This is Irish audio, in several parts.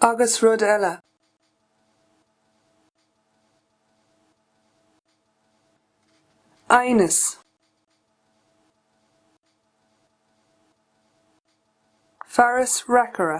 Agus rud eile. Aighneas. Fearas reacaire.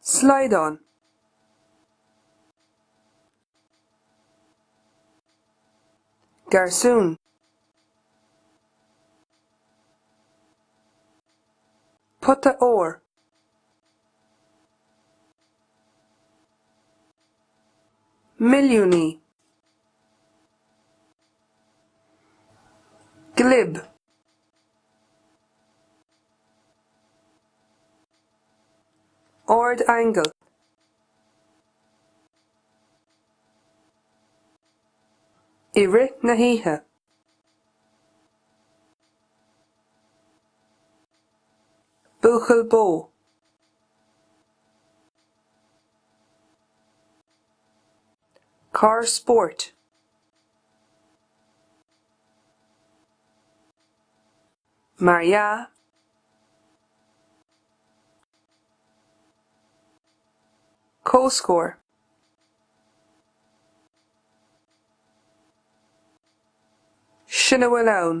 Slaghdán. Garsún. Pota óir. Milliúnaí. Glib. Ardaingeal. I rith na hoíche. Buachaill Bó. Carr Spóirt. Mar dhea, comhscór. Sin a bhfuil ann.